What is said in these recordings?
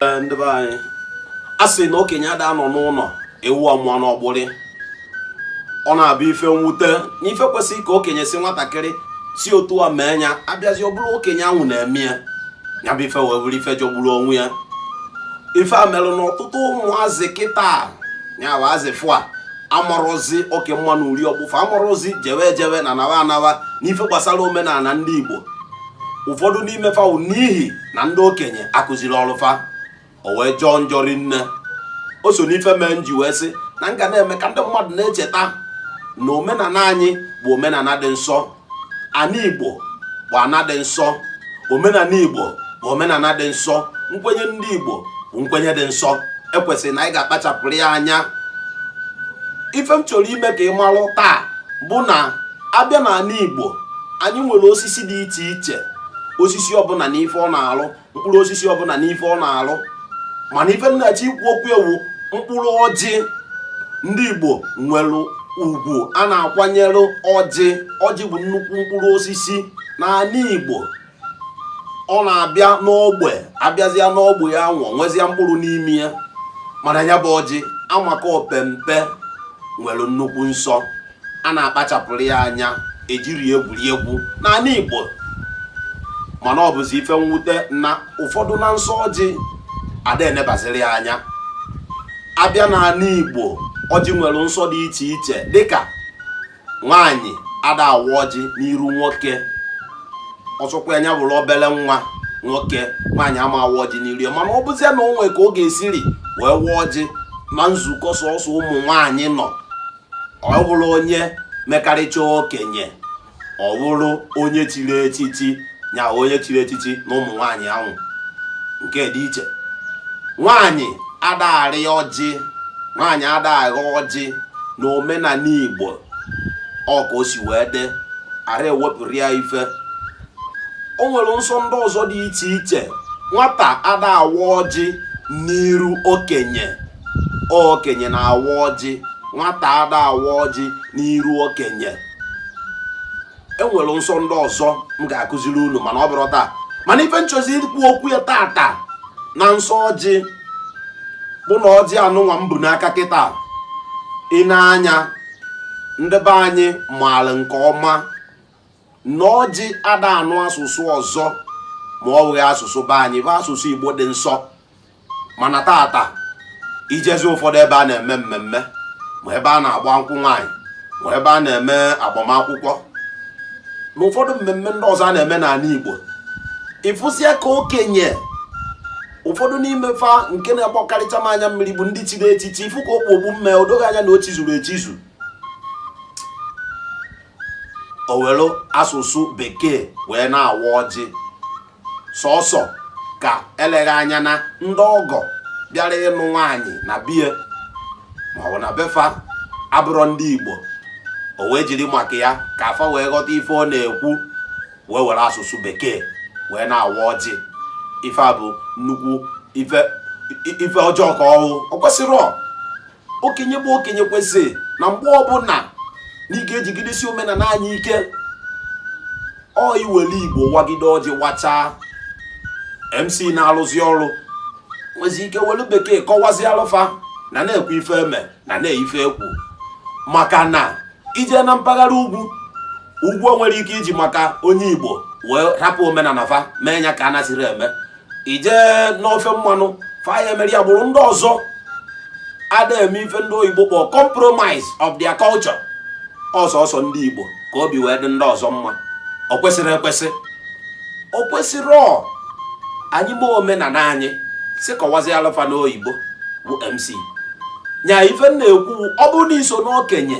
ndị be anyị a sị na okenye ada anọ n'ụnọ ewu amụọ n'ọgbụrị ọ na-abụ ife mwute na ife kwesịrị ka okenye sị nwatakịrị si otu a mee ya a bịazie ọ bụrụ okenye ahụ na-eme ya ya bụ ife wee bụrụ ife jọgburu onwe ya ife a mere na ọtụtụ ụmụazị kịta ya bụ azị ọfụụ a amarọzi oke mma na uri ọkpụfụ amarọzi jewe ejewe na nawa anawa n'ife gbasara omenala ndị Igbo ụfọdụ n'ime fa wụ n'ihi na ndị okenye akụzirọlụ fa ọ wee jọọ njọ rinne o so n'ife mee m ji wee sị na m ga na-eme ka ndị mmadụ na-echeta na omenala anyị bụ omenala dị nsọ ana igbo bụ ana dị nsọ omenala igbo bụ omenala dị nsọ nkwenye ndị igbo bụ nkwenye dị nsọ e kwesịrị na anyị ga-akpachapụrụ ya anya ife m chọrọ ime ka ị malụ taa bụ na a bịa n'anị igbo anyị nwere osisi dị iche iche osisi ọbụla na ife ọ na-alụ mkpụrụ osisi ọbụla na ife ọ na-alụ mana ife m na-achọ ikwu okwu ya wụ mkpụrụ ọjị ndị Igbo nwere ugwu a na-akwanyere ọjị ọjị bụ nnukwu mkpụrụ osisi n'anị Igbo ọ na-abịa n'ogbe a bịazịa n'ogbe ya anwụ o nwezịa mkpụrụ n'ime ya mana ya bụ ọjị amaka opempe nwere nnukwu nsọ a na-akpachapụrụ ya anya ejirọ ya egwuri egwu n'anị Igbo mana ọ bụzi ife mwute na ụfọdụ na nsọ ọjị ada enebaziri ya anya a bịa n'anị Igbo ọjị nwere nsọ dị iche iche dịka nwaanyị ada awa ọjị n'iru nwoke ọ sọkwa nya bụrụ obele nwa nwoke nwaanyị ama awa ọjị n'iru ya mana ọ bụzie na o nwe ka ọ ga-esiri wee wa ọjị na nzukọ sọsọ ụmụ nwaanyị nọ ọ bụrụ onye mekarịcha okenye ọ bụrụ onye chiri echichi nya onye chiri echichi na ụmụ nwaanyị ahụ nke dị iche nwaanyị ada arị ọjị nwaanyị ada aghọ ọjị na omenala igbo ọ ka o si wee dị ara ewepụrụ ya ife o nwere nsọ ndị ọzọ dị iche iche nwata ada awa ọjị n'iru okenye okenye na-awa ọjị nwata ada awa ọjị n'iru okenye e nwere nsọ ndị ọzọ m ga-akụziri unu mana ọ bụrọ taa mana ife m chọzị ikwu okwu ya tata na nsọ ọjị bụ na ọjị anụnwa m bu n'aka kịta ị na-anya ndị be anyị maara nke ọma na ọjị ada anụ asụsụ ọzọ ma ọ bụghị asụsụ be anyị bụ asụsụ igbo dị nsọ mana tata ijezi ụfọdụ ebe a na-eme mmemme ma ebe a na-agba nkwụ nwaanyị ma ebe a na-eme agbamakwụkwọ na ụfọdụ mmemme ndị ọzọ a na-eme n'ala igbo ịfụsịa ka okenye ụfọdụ n'ime fa nke na-agbakarịcha m anya mmiri bụ ndị chiri echichi ifu ka o kpu okpu mme o doo gị anya na o chizuru echizu o were asụsụ bekee wee na-awa ọjị sọsọ ka eleghị anya na ndị ọgọ bịara ịnụ nwaanyị na be ya maọbụ na be fa abụrọ ndị Igbo o wee jiri maka ya ka fa wee ghọta ife ọ na-ekwu wee were asụsụ bekee wee na-awa ọjị ife a bụ nnukwu ife ọjọọ ka ọ wụ o kwesịrọ okenye bụ okenye kwesịrị na mgbe ọbụla na ị ga-ejigidesi omenala anyị ike ọ iwere igbo wagide ọjị wachaa mc na-alụzi ọrụ nwezi ike welu bekee kọwazialụ fa na nekwe ife eme na nee ife ekwu maka na ije na mpaghara ugwu ugwu o nwere ike iji maka onye igbo wee rapụ omenala fa mee ya ka a nasịrị eme ije n'ofe mmanụ fa ya-emeri agbụrụ ndị ọzọ ada eme ife ndị oyibo kpọọ compromise of their culture ọ sọsọ ndị igbo ka obi wee dị ndị ọzọ mma ọ kwesịrị ekwesị o kwesịrọ anyị mee omenala anyị si kọwazialụ fa n'oyibo bụ mc nya ife m na-ekwu ọ bụrụ na iso n'okenye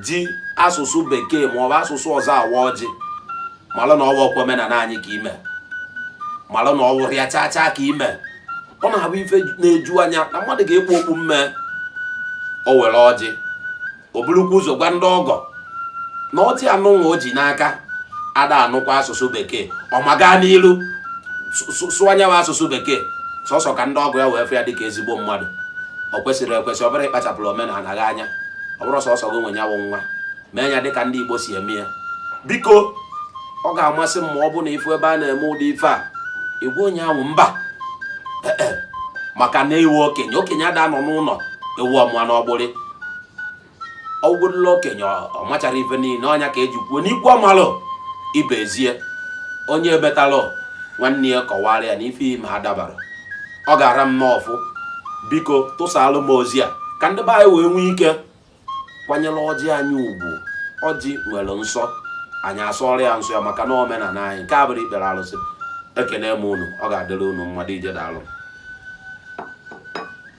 ji asụsụ bekee maọbụ asụsụ ọzọ awa ọjị malụ na ọ wụrọkwa omenala anyị ka ime malụ na ọ wụrọ ya chaa chaa ka ime ọ na-abụ ife na-eju anya na mmadụ ga-ekpu okpu mme o were ọjị o burukwa ụzọ gwa ndị ọgọ na ọjị anụnwa o ji n'aka ada anụkwa asụsụ bekee ọ ma gaa n'iru sụọ nya wụ asụsụ bekee sọsọ ka ndị ọgọ ya wee fụ ya dịka ezigbo mmadụ ọ kwesịrọ ekwesị ọ bụrọ ịkpachapụrụ omenala gị anya ọ bụrọ sọsọ gị nwe ya wụ nwa mee ya dịka ndị Igbo si eme ya biko ọ ga-amasị m ma ọ bụ na ifu ebe a na-eme ụdị ife a ị gwa onye ahụ mba eh, eh. maka na ị wụ okenye okenye ada anọ n'ụlọ ewu amụa n'ọgbụrị ọgwụgwụrụla okenye ọ macharọ ife niile ọ nya ka eji kwuo n'ikwu amarọ ibe ezie onye wetalụ nwanne ya kọwara ya na ife ime a adabarọ ọ ga-ara m n'ọfụ biko tụsalụ m ozi a ka ndị be anyị wee nwee ike kwanyere ọjị anyị ugwu ọjị nwere nsọ anyị asọrọ ya nsọ ya maka na omenala anyị nke a abụrọ ikpere arụsị ekene m unu ọ ga-adịrị unu mma dụ ije daalụ